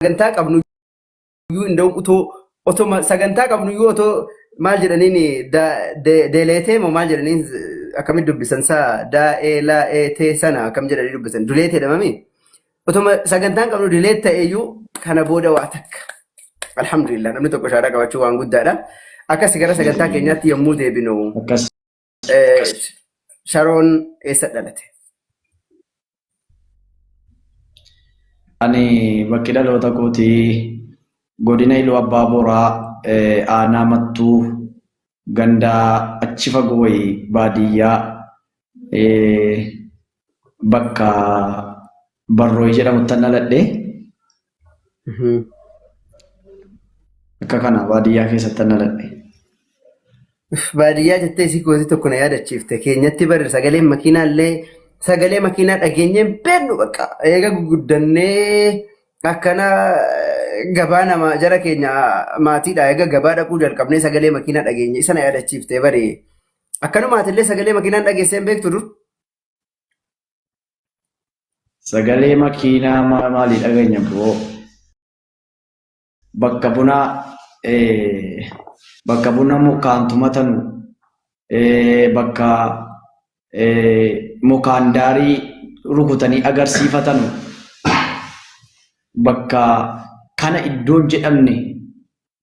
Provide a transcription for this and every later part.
sagantaa qabnu iyyuu inda'u utoo otoma sagantaa qabnu iyyuu otoo maal jedhaniin deeleetee moo maal jedhaniin akkamitti dubbisan saa daa'ee laa'ee tee sana akkam jedhanii dubbisan duleetee dhamami otoma sagantaan qabnu dileet ta'e iyyuu kana booda waa takka alhamdulillah namni tokko shaadaa qabachuu waan guddaadha akkas gara sagantaa keenyaatti yommuu deebinu Akkas. Eh, Sharoon eessa dhalate? Ani bakki dhaloota kooti godina Iluu Abbaa Booraa eh, aanaa Mattuu gandaa achi fagoo wayii baadiyyaa eh, bakka Barrooy jedhamuttan dhaladhe. Akka kana baadiyyaa keessattan dhaladhe. Baadiyyaa jettee isii gooti tokko na yaadachiifte keenyatti barri sagaleen makiinaa illee sagalee makiinaa dhageenyee hin beeknu bakka eega guguddannee akkana gabaa nama jara keenya maatiidha eega gabaa dhaquu jalqabnee sagalee makiinaa dhageenye isa na yaadachiifte bari akkanumaati illee sagalee makiinaan dhageessee hin beektu dur. Sagalee makiinaa maa- maalii dhageenya bro? Bakka bunaa eh, bakka buna mukaan tumatanu eh, bakka eh, mukaan daarii rukutanii agarsiifatanu bakka kana iddoon jedhamne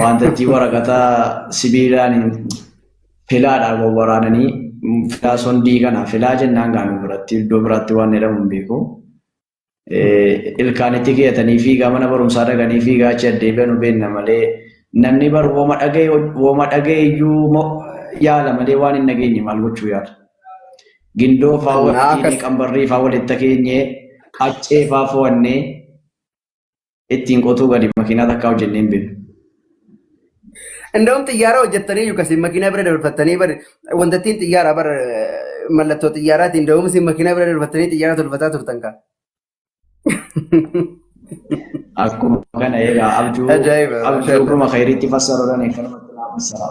Wantattii waraqata sibiilaan filaadhaan wal waraananii filaa sondii kana filaa jennaan gaanu biratti iddoo biraatti waan jedhamu hin beeku. Ilkaanitti keeyatanii fiigaa mana barumsaa dhaqanii fiigaa achi addeebi'an beekna malee namni bar wooma dhaga'e wooma dhaga'e iyyuu yaala malee waan hin dhageenye maal gochuu yaala. Gindoo faa waliin qambarrii faa walitti keenyee qaccee faa fo'annee ittiin qotuu gadi makiinaa takkaa hojjennee hin beeknu. Inda'uun xiyyaara hojjettanii yookasin makiinaa bira dabarfattanii bar wanta ittiin xiyyaara bar mallattoo xiyyaaraatiin da'umsi makiinaa bira dabarfattanii xiyyaara tolfataa turtan kaa. Akkuma kana egaa abjuu Ajaa'iba. abjuu dhuma khayriitti fassaruudhaan eegganumatti naa fassara.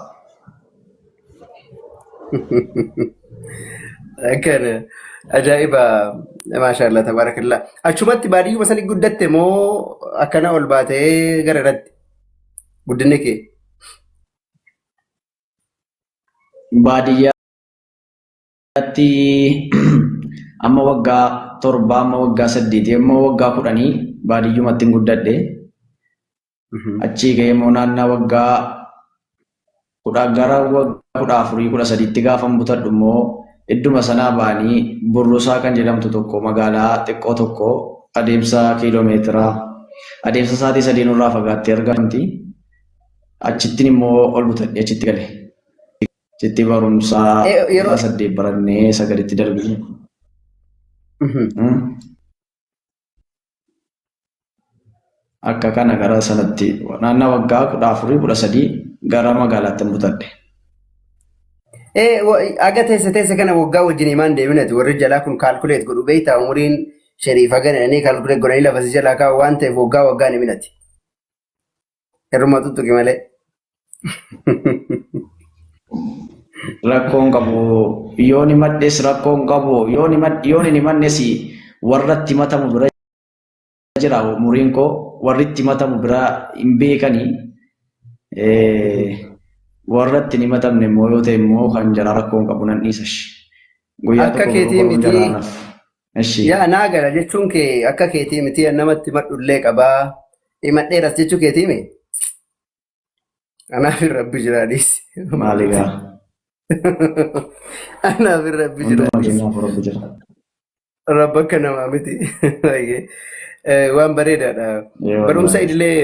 Kan ajaa'iba maashaallah tabaarakallaa. Achumatti baadiyyuma sanii guddatte moo akkana ol baatee gara irratti guddinni kee? Baadiyyaa irratti amma waggaa torbaa amma waggaa saddeetii amma waggaa kudhanii baadiyyumatti guddadhe. Achii ga'ee immoo naannaa waggaa kudha gara waggaa kudha afurii kudha sadiitti gaafa butadhu immoo idduma sanaa ba'anii burrusaa kan jedhamtu tokko magaalaa xiqqoo tokko adeemsa kiiloomeetiraa adeemsa sa'aatii sadii nurraa fagaattee argamti. Achittiin immoo ol butadhe achitti gale. jettee barumsaa Eh, yeroo- yeroo saddeet barannee sagalitti darbine. Akka kana gara sanatti naannaa waggaa kudha afurii kudha sadii gara magaalaatti mutadhe. Eh, wa- aga teessa teessa kana waggaa wajjin himaan deeminati warri jalaa kun kaalkuleet godhu beektaa umuriin sheriif haga jedhanii kaalkuleet godhanii lafa si jalaa kaa'u waan ta'eef waggaa waggaan himinati. Irruma tuttuqi malee. Rakkoon qabu yoon himadhes rakkoon qabu yoon himad- yoon hin himannes warratti himatamu bira jira umuriin koo warritti himatamu bira hin beekani. Eh, Warratti hin himatamne immoo yoo ta'e immoo kan jara rakkoon qabu nan dhiisash. Guyyaa Akka tokko keetii gurguruun miti. jaraanaaf. Eshi. Yaa naa gala jechuun kee akka keetii miti namatti madhullee qabaa. Himadheeras jechuu keetii mi? Anaaf hin rabbi jiraadhiis. Maali gaa. Anaaf hin rabbi Hundumaa jiraadhiis. keenyaaf rabbi jira. Rabbi akka namaa miti. Baay'ee. Eh, Waan bareedaadha. Ee Barumsa wallaahi. idilee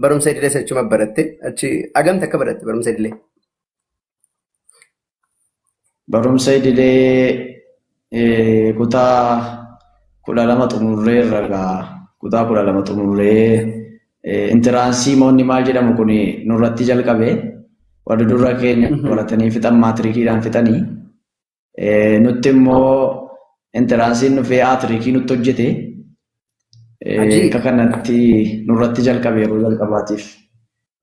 barumsa idilee sachuma baratte achi agamta akka baratte barumsa idilee. Barumsa idilee kutaa kudha lama xumurree irra gaa kutaa kudha lama xumurree intiraansii moonni maal jedhamu kun nurratti jalqabe warri durra keenya baratanii fixan maatirikiidhaan fixanii nutti immoo intiraansiin dhufee aatirikii nutti hojjete akka kanatti nurratti jalqabe yeroo jalqabaatiif.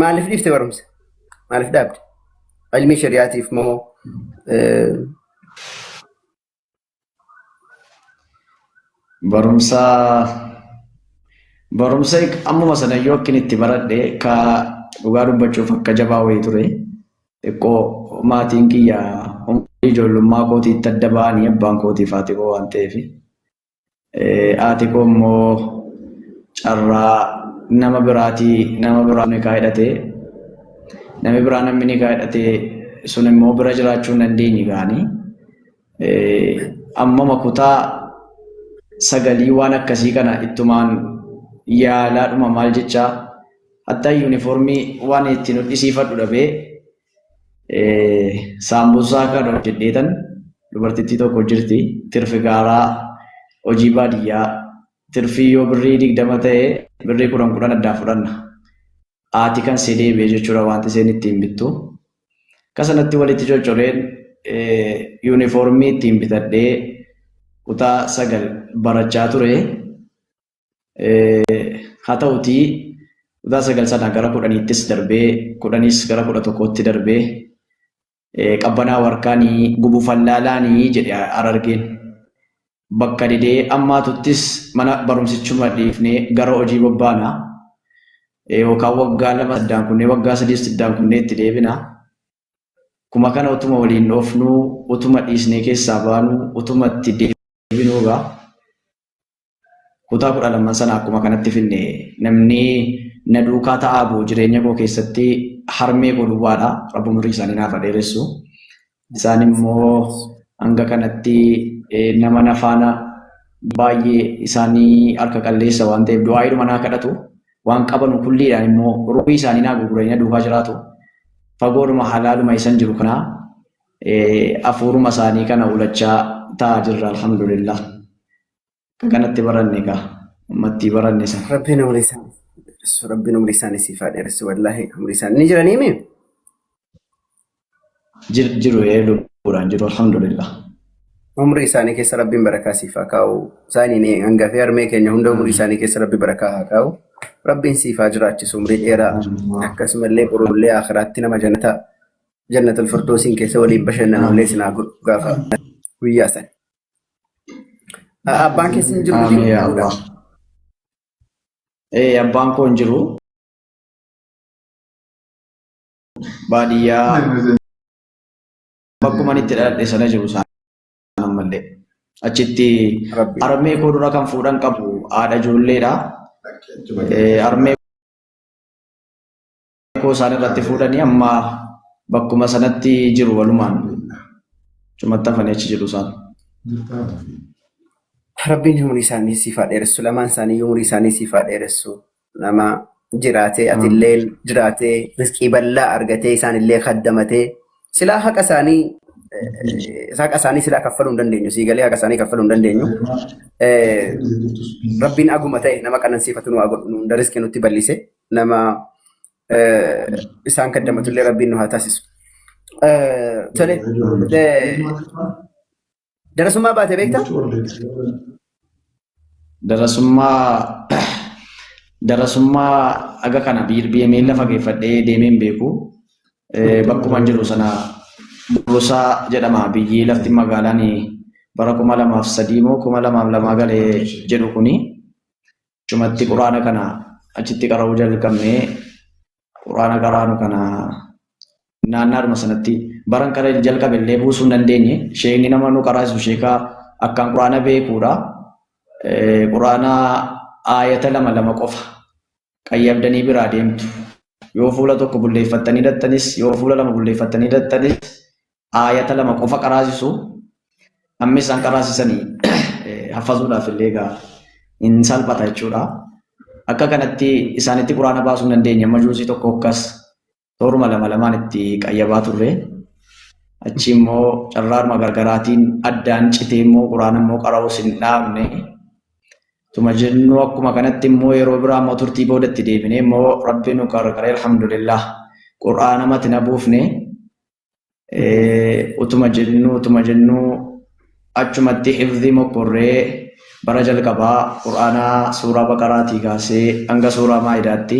Maaliif dhiifte barumsa? Maaliif dhaabde? Ilmii shari'aatiif moo eh, Barumsa barumsa ammuma sana yoo akkin itti baradhe ka dhugaa dubbachuuf akka jabaa wayii ture. Xiqqoo maatiin kiyya umrii ijoollummaa kootii itti adda ba'anii abbaan kootii fi haati koo waan ta'eef Haati koo immoo carraa nama biraatii nama biraa nikaa hidhatee namni biraa namni nikaa hidhatee sun immoo bira jiraachuu hin dandeenye gaanii ammama kutaa sagalii waan akkasii kana ittumaan yaalaadhuma maal jechaa hattaa yuunifoormii waan ittiin hodhisiifadhu dhabee Saambussaa kan hojjedheetan dubartittii tokko jirti tirfi gaaraa hojii baadiyyaa tirfii yoo birrii digdama ta'e birrii kudhan kudhan addaa fudhanna haati kan see deebi'e jechuudha wanti seen ittiin bittu kasanatti walitti coccoreen yuunifoormii ittiin bitadhee kutaa sagal barachaa ture Haa ta'utii kutaa sagal sana gara kudhaniittis darbee kudhanis gara kudha tokkootti darbee qabbanaa warkaanii gubu fallaalaanii jedhe arargeen. Bakka didee ammaatuttis mana barumsichuma dhiifnee gara hojii bobbaana. Yookaan waggaa lama saddaan kunnee waggaa sadii saddaan kunnee itti deebina. Kuma kana utuma waliin dhoofnuu utuma dhiisnee keessaa baanuu utuma itti deebinuu egaa. Kutaa kudha lamman sana akkuma kanatti finne namni na duukaa ta'aa bu'u jireenya koo keessatti harmee koo duwwaadha. Rabbi umurii isaanii naaf haa dheeressu. Isaan immoo hanga kanatti eh, nama na faana baay'ee isaanii harka qalleessa waan ta'eef du'aayiidhuma naa kadhatu. Waan qabanu kulliidhaan immoo ruuhii isaanii naa gurguranii na duukaa jiraatu. Fagoodhuma halaaluma isan jiru kana eh, hafuuruma isaanii kana ulachaa ta'aa jirra alhamdulillah. Kanatti baranne kaa. Ammattii baranne san. Rabbiin umrii isaanii dheeressu. Rabbiin umrii isaanii siif haa dheeressu. Wallaahi umrii isaanii ni jiranii mee? Jir- Jiru ee lubbuudhaan jiru alhamdulillah. Umrii isaanii keessa Rabbiin barakaa siif haa kaa'u. Isaaniin ee hangafee harmee keenya hunda umrii isaanii keessa Rabbi barakaa haa kaa'u. Rabbiin siif haa jiraachisu umrii dheeraa. Akkasumallee borullee akhiraatti nama jannataa jannatul firdoosiin keessa waliin bashannanullee isin haa godhu gaafa guyyaa sana. Abbaan keessa hin jiru Aamee yaa jechuudha. Allah. Ee abbaan koo hin jiru. Baadiyyaa bakkuma ani itti dhaladhe sana jiru isaan ammallee. Achitti Rabbi. armee koo dura kan fuudhan qabu haadha ijoolleedha. Ee, Armee Rakkoo isaan irratti fuudhanii amma bakkuma sanatti jiru walumaan cumatti hafanii achi jiru isaan. Rabbiin umurii isaanii siif haa dheeressu. Lamaan isaanii umurii isaanii siif haa dheeressu. Nama jiraatee atillee jiraatee riskii bal'aa argatee isaanillee kaddamatee silaa haqa isaanii eh, haqa isaanii silaa kaffaluu hin dandeenyu. Sii galee haqa isaanii kaffaluu hin dandeenyu. Eh, Rabbiin aguma ta'e nama qanansiifatu nu haa godhu. Nu hunda riskii nutti bal'ise. nama isaan kaddamatu illee rabbiin nu haa taasisu. Tole darasummaa baate beektaa? Darasummaa darasummaa aga kana BMN lafa geeffadhee deemeen beeku. Bakkuma jiru sana Burusaa jedhama biyyi lafti magaalaan bara kuma lamaaf sadii moo kuma lamaaf lamaa galee jedhu kuni. Cumatti quraana kana achitti qara'uu jalqabnee quraana qaraanu kana naannaadhuma sanatti baran kana jalqabe illee buusuu hin dandeenye sheekni nama nu qaraasu sheekaa akkaan quraana beekuudha. Quraana aayata lama lama qofa qayyabdanii biraa deemtu. Yoo fuula tokko bulleeffattanii dhaxxanis yoo fuula lama bulleeffattanii dhaxxanis aayata lama qofa qaraasisu amma isaan qaraasisanii haffazuudhaaf illee egaa hin salphata jechuudha. Akka kanatti isaanitti quraana baasuu hin dandeenye amma juusii tokko akkas tooruma lama lamaan itti qayyabaa turre. Achi immoo carraaruma gargaraatiin addaan citee immoo quraana immoo qara'uus hin dhaabne. Tuma jennu akkuma kanatti immoo yeroo biraa immoo turtii booda itti deebinee immoo rabbi nu gargaaree alhamdulillah quraana mati na buufne utuma jennuu utuma jennuu achumatti hifzii mokkorree bara jalqabaa qur'aanaa suuraa baqaraatii kaasee hanga suuraa maayidaatti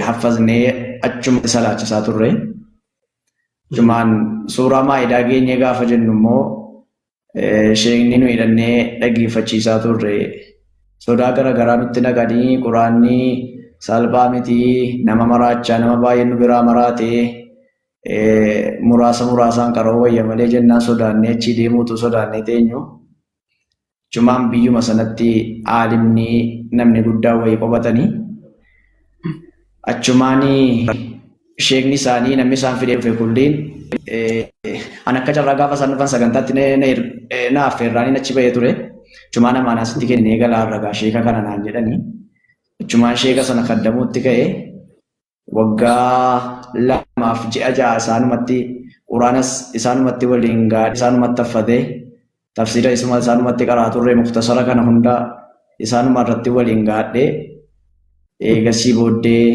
haffaznee achumatti salaachisaa turre. Jumaan suuraa maayidaa geenyee gaafa jennu immoo Sheekni nu hidhannee dhaggeeffachiisaa turre. Sodaa garagaraa nutti naqanii quraanni salphaa miti nama maraachaa nama baay'ee nu biraa maraate muraasa muraasaan qara'uu wayya malee jennaan sodaannee achii deemuu utuu sodaannee teenyu. Achumaan biyyuma sanatti aalimni namni guddaa wayii qobatanii. achumaan sheekni isaanii namni isaan fidee dhufe kulliin an akka carraa gaafa isaan dhufan sagantaatti na affeerraanii achi bahee ture achumaan amaanaa sitti kennee galaa ragaa sheeka kana naan jedhanii achumaan sheeka sana kaddamuutti ka'e waggaa lamaaf ji'a ja'a isaanumatti quraanas isaanumatti waliin gaadhe isaanumatti affatee tafsiira isuma isaanumatti qaraa turre muktasara kana hunda isaanuma irratti waliin gaadhe eegasii booddee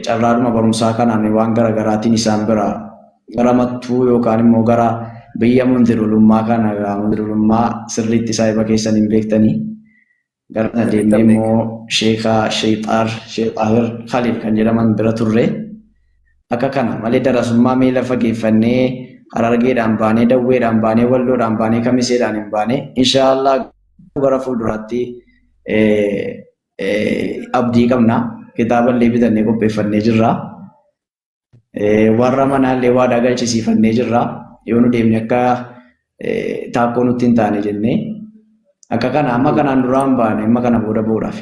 carraadhuma barumsaa kanaan waan garaagaraatiin isaan bira gara mattuu yookaan immoo gara biyya mundirulummaa kana mundirulummaa sirriitti saahiba keessan hin beektanii Garana deemnee immoo sheeka Sheexaar Sheexaahir Khalil kan jedhaman bira turre. Akka kana malee darasummaa miila fageeffannee Harargeedhaan baanee Dawweedhaan baanee Walloodhaan baanee Kamiseedhaan hin baane. Inshaallah bara fuulduraatti abdii qabna. Kitaaba illee bitannee qopheeffannee jirra. Warra manaallee waadaa galchisiifannee jirra. Yoo nu deemne akka taakkoo nutti hin taane jennee akka kana amma kanaan duraan baane amma kana booda boodhaaf.